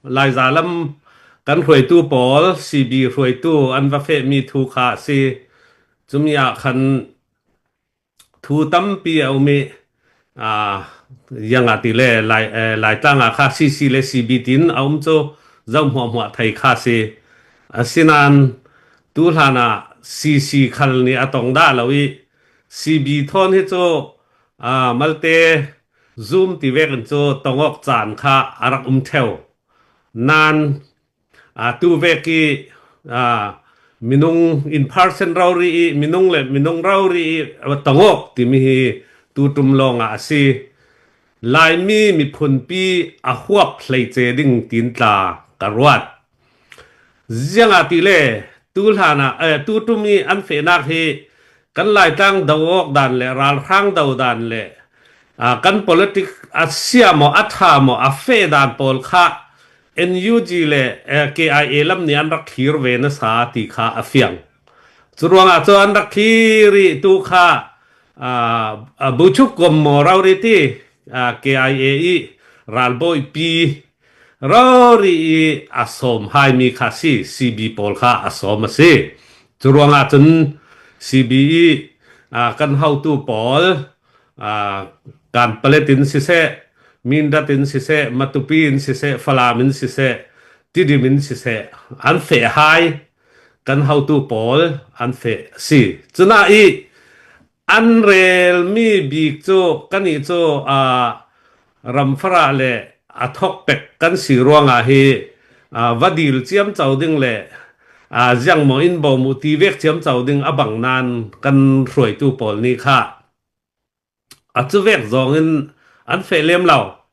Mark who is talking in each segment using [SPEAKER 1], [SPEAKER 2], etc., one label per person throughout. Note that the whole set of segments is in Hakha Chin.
[SPEAKER 1] Laiza lam kan hruaitu pawl CB hruaitu an va fehmi thu kha a si. Cumi ah khan thu tampi a um i yang ati le lai lai tlang ah kha CC le CB tin a um cu zoh hmuah hmuah thai kha si asinan tu hlan ah CC khal ni a tong da lo i CB thon hi cu malte Zoom tiveng in cu tongawk caan kha a rak um theo. Nain atu vek i minung in person rori i minung le minung rori i tongawk timi hi tutum lawng ah a si. Laimi miphunpi a huap hlei ce ding tiin tla ka ruat. Ziangahtile tu ṭum i an fehnak hi kan Laitlang do awk dan le ralhrang do dan le kan politics a sia maw a ṭha maw a feh dan pawl kha NUG le KIA lam nih an rak thlir ve nasa ti kha a fiang. Curuangah cu an rak thlir i tu kha Buchuk Kom Maw Rori ti KIA i ralbawi pi rori i a sawm haimi kha si CB pawl kha a sawm a si cu ruangah cun CB i kan hotu pawl kan palet in siseh mindat in siseh matupi in siseh falam in siseh tidim in siseh an fe hai kan hotu pawl an fe si cuna i An relmi bik cu kannih cu ram farah le a thok pek kan si ruangah hi va dil ciam co ding le ziangmaw in bawm u ti vek ciam co ding a bang nain kan hruaitu pawl nih kha a cuvek zong in an feh lem lo.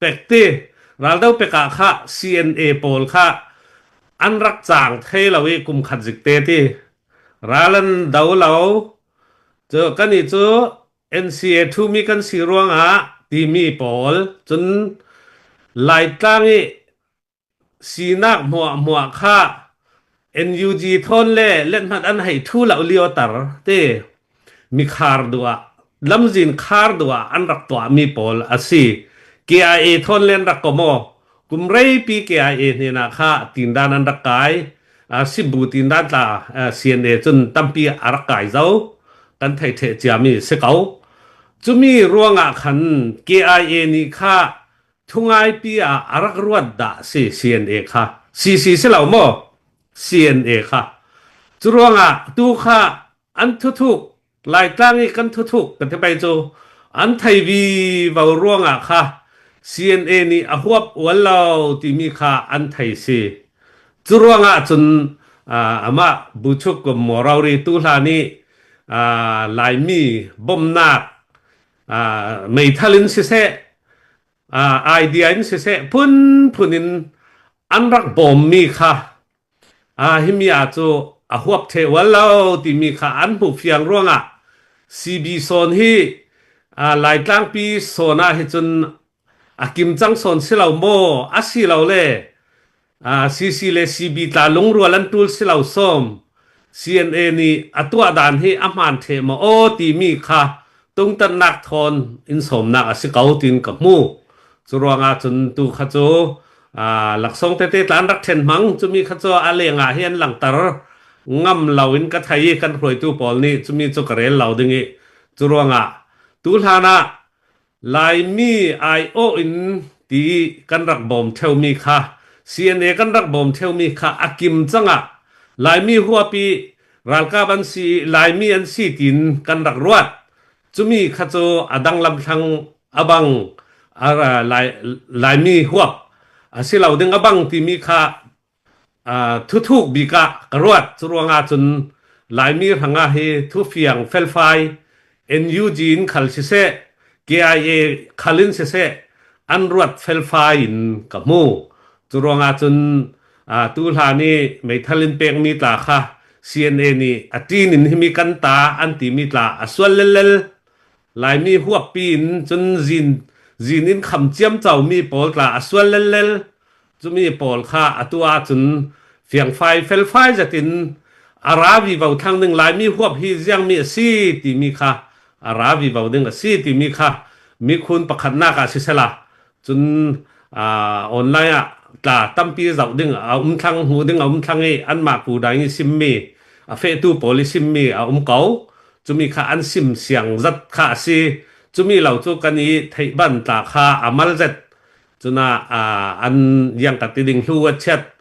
[SPEAKER 1] Pekti, raldo pek ah kha CNA pawl kha an rak cang thai lo i kum khat zik te ti ral an do lo cu kan i cu NCA thumi kan si ruangah timi pawl cun Laitlang i Sinak hmuahhmuah kha NUG thawn le lethngat an hei ṭhu lo lio tar te mi khar duh ah lamzin khar duh ah an rak tuah mi pawl a si. KIA thawn len rak ko maw kum reipi KIA hnen ah kha tindan an rak kai uh, sibu tindan tla uh, CNA cun tampi a rak kai zo kan thei the cia mi si ko. Cumi ruangah khan KIA ni kha Thungaipi ah a rak ruat dah a si CNA kha? CC si lo maw? CNA kha. Cu ruangah tu kha an thuthuk Laitlang i kan thuthuk ka ti pei cu an theivi vo ruangah kha CNA nih a huap ual lo timi kha an thei si. Cu ruangah cun amah Buchuk Morori tu hla nih Laimi bawmhnak meithal in siseh idea in siseh phunphun in an rak bawmmi kha himiya cu a huap the ual lo timi kha an hmuh fiang ruangah CB sawn hi Laitlangpi sawn ah hi cun a kim cang sawn si lo maw a si lo le CC le CB tla lungrual an tul si lo som CNA nih a tuah dan hi a hmaan the ma aw timi kha tungtannak thon in somnak a si ko tin ka mu chu ruanga chun tu kha chu laksong te te tlan rak then mang chumi kha chu a lenga hi an langtar ngam loin ka thai kan hruaitu pawl nih chumi chu karel lo ding i chu ruanga tu hlana Laimi aiawh in ti kan rak bawm ṭheumi kha CNA kan rak bawm ṭheumi kha a kim cang ah Laimi huapi ralkap an si i Laimi an si tiin kan rak ruat. Cumi kha cu a dang lamthlang a bang a ra- Lai- Laimi huap a si lo ding a bang timi kha Thuthuk bik ah ka ruat. Curuangah cun Laimi hrangah hi thufiang felfai NUG in khal siseh, KIA khal in siseh an ruat felfai in ka hmu. Curuangah cun tuhlan i meithal in pekmi tla kha CNA nih a ṭin in himi kan ta an timi tla a sual lellel. Laimi huappi in cun zin zin in kham ciam caumi pawl tla a sual lellel cumi pawl kha atu ahcun fiangfai felfai zetin a ra vi vo thlang ding Laimi huap hi ziangmi a si timi kha a ra vi vo ding a si timi kha mikhun pakhatnak ah sisela cun online ah tla tampi zoh ding a um thlang hmu ding a um thlang i anmah pu dang i simmi a fehtu pawl i simmi a um ko cumi kha an sim siang zat kha a si cumi lo cu kan i theih ban tla kha a mal zet cuna an yang ka ti ding hlu a chiat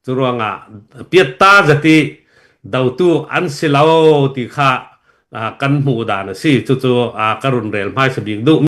[SPEAKER 1] Curuangah piatta zati dotu an si lo ti kha kan hmuh dan a si. Cucu ka run rel hmai sabik duh.